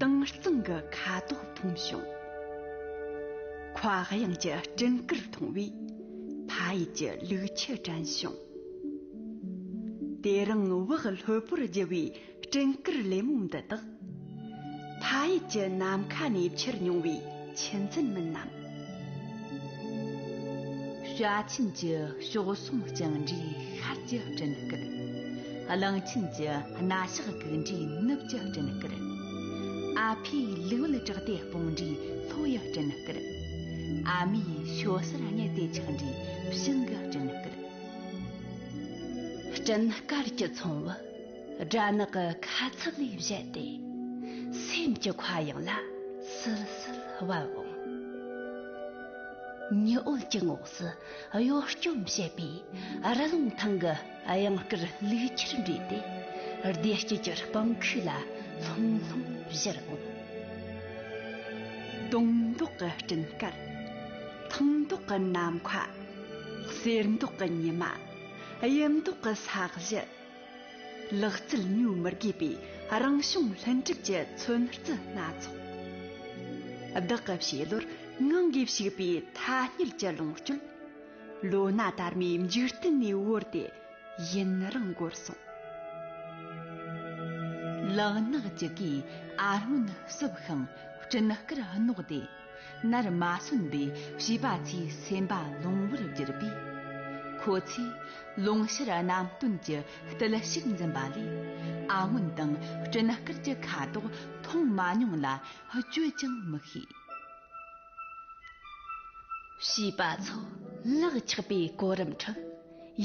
དྭངས་གཙང་གི་ཁ་དོག་མཐོང་བྱུང། ཁ་གཡང་གྱི་སྤྲིན་དཀར་མཐོང་བས། ཕ་ཡུལ་གྱི་ལུག་ཁྱུ་དྲན་བྱུང། དེ་རིང་བག་ལྷོད་པོར་རྒྱུ་བའི་སྤྲིན་དཀར་ལེབ་མོ་འདི་དག། ཕ་ཡུལ་གྱི་ནམ་མཁའ་ནས་ཁྱེར་མྱོང་བའི་ཆུ་འཛིན་མིན་ནམ། བྱ་ཆེན་གྱི་གཤོག་ཟུང་བརྐྱང་འདྲའི་ཤར་གྱི་སྤྲིན་དཀར། གླིང་ཆེན་གྱི་རྣ་ཞགས་གུག་འདྲའི་ནུབ་ཀྱི་སྤྲིན་དཀར། ཨ་ཕའི་ལུས་དབལ་བྲག་སྟེ་སྤུངས་འདྲའི་ལྷོ་ཡི་སྤྲིན་དཀར། ཨ་མའི་ཞོ་གསར་སྙེ་སྟེ་འཁྱག་འདྲའི་བྱང་གི་སྤྲིན་དཀར། སྤྲིན་དཀར་གྱི་ཚོང་བུ། སྦྲ་ནག་གི་ཁ་ཚབ་ལས་བཞད་དེ། སེམས་ཀྱི་ཁ་གཡང་ལ་སིལ་སིལ་བབས་འོང། ཉི་འོད་ཀྱི་ངོགས་སུ་གཡོ་སྐྱོམ་བྱེད་པའི་རི་ལུང་ཐང་གི་གཡང་སྐར་ལུས་ཁྱེར་འདྲེས་ཏེ་སྡེ་དཀྱིལ་གྱི་སྤང་ཁུག་ལ་ལྷུང་ལྷུང་བཞུར་འོང། དུང་མདོག་གི་སྤྲིན་དཀར། ཐུང་མདོག་གི་ནམ་མཁའ། གསེར་མདོག་གི་ཉི་མ། དབྱིབས་མདོག་གི་ས་གཞི། ལག་རྩལ་ཉོ་མི་དགོས་པའི་རང་བྱུང་ལྷུན་གྲུབ་ཀྱི་མཚོན་རྩི་སྣ་ཚོགས། བདག་གི་བྱེད་བློར་ངང་གིས་ཞུགས་པའི་ཐ་སྙད་ཀྱི་ལོངས་སྤྱོད། ལོ་ན་དར་མའི་འཇིག་རྟེན་ནས་དབོར་ཏེ་ཡུན་རིང་འགོར་སོང། ལག་ནག་ཅིག་གིས་ཨ་སྔོན་བསུབས་ཤིང་སྤྲིན་དཀར་བསྣོགས་ཏེ། ནར་མ་སོན་པའི་བྱིས་པ་ཚོའི་སེམས་པ་ལོང་བར་བསྒྱུར་པས། ཁོ་ཚོས་ལུང་ཤར་རྣམ་སྟོན་གྱི་རྟུལ་ཞུགས་འཛིན་པ་ལས་ཨ་སྔོན་དང་སྤྲིན་དཀར་གྱི་ཁ་དོག་མཐོང་མ་མྱོང་ལ་བཅོས་ཀྱང་མི་ཤེས། བྱིས་པ་ཚོ་ལག་ཆགས་པའི་གོ་རིམ་ཁྲོད།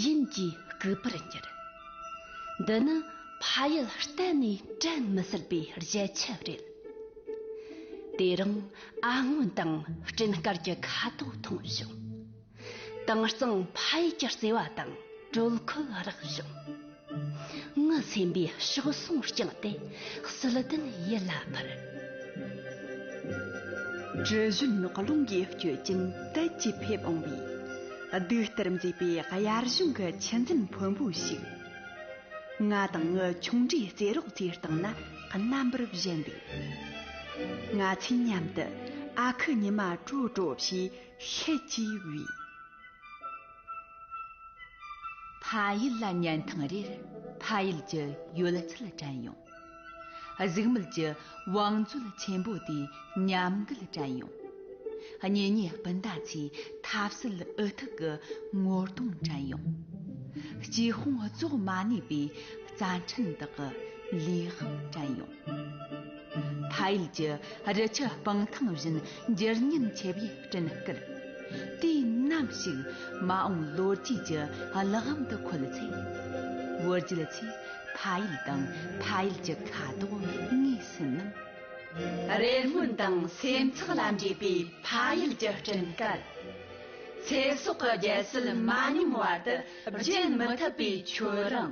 ཡིན་གྱིས་རྐུ་བར་འགྱུར། འདི་ནི་ཕ་ཡུལ་གཏན་ནས་དྲན་མི་སྲིད་པའི་བརྗེད་ཆགས་རེད། དེ་རིང་ཨ་སྔོན་དང་སྤྲིན་དཀར་གྱི་ཁ་དོག་མཐོང་བྱུང། དྭངས་གཙང་ཕ་ཡུལ་གྱི་བརྩེ་བ་དང་དྲོད་ཁོལ་རག་བྱུང། ངའི་སེམས་པའི་ཕྱོགས་སོང་བསྐྱངས་ཏེ་བསིལ་ལྡན་ཡིད་ལ་འཕུར། དྲི་བཞོན་རྙོག་རླུང་གིས་བསྐྱོད་ཅིང་དལ་གྱིས་ཕེབས་འོང་བའི། བདུད་ལྟར་མཛེས་པའི་དབྱར་གཞུང་གི་ཆུ་འཛིན་ཕོན་པོ་ཞིག། ང་དང་ངའི་ཆུང་འདྲིས་རྩེད་རོགས་ཚོའི་སྟེང་ན་རྣམ་པར་བཞད་འདུག། ང་ཚོས་མཉམ་དུ་ཨ་ཁུ་ཉི་མ་དྲོ་དྲོ་ཞེས་ཤེད་ཀྱིས་དབྱུས། ཕ་ཡུལ་ལ་ཉན་ཐང་རེར་ཕ་ཡུལ་གྱི་ཡོད་ཚད་དྲན་ཡོང། གཟུགས་མེད་ཀྱི་བང་མཛོད་ཆེན་པོ་དེའི་ཉམས་རྒུད་དྲན་ཡོང། གཉེན་ཉེ་སྤུན་ཟླ་ཚོའི་ཐབས་སུལ་འུ་ཐུག་གི་ངོ་གདོང་དྲན་ཡོང། སྐྱི་ཧོང་རྫོགས་མ་ནུས་པའི་རྩ་འཕྲིན་དག་གི་ལུས་དབང་དྲན་ཡོང། ཕ་ཡུལ་གྱི་རི་ཆུ་སྤང་ཐང་བཞིན་འགྱུར་ཉེན་ཆེ་བའི་སྤྲིན་བསྐུལ། དུས་ནམ་ཞིག་མ་འོངས་ལོ་རྒྱུས་ཀྱི་གླགས་བམ་དུ་འཁོད་ཚེ། བོད་རྒྱུད་ཆོས་ཕ་ཡུལ་དང་ཕ་ཡུལ་གྱི་ཁ་དོག་ངོས་ཟིན་ནམ། རེ་སྨོན་དང་སེམས་འཚབ་ལ་འདྲེས་པའི་ཕ་ཡུལ་གྱི་སྤྲིན་བསྐལ། ཚེ་སྲོག་གི་རྒྱལ་སྲིད་མ་ཉམས་བར་དུ་བརྗེད་མི་ཐུབ་པའི་མཆོད་རང།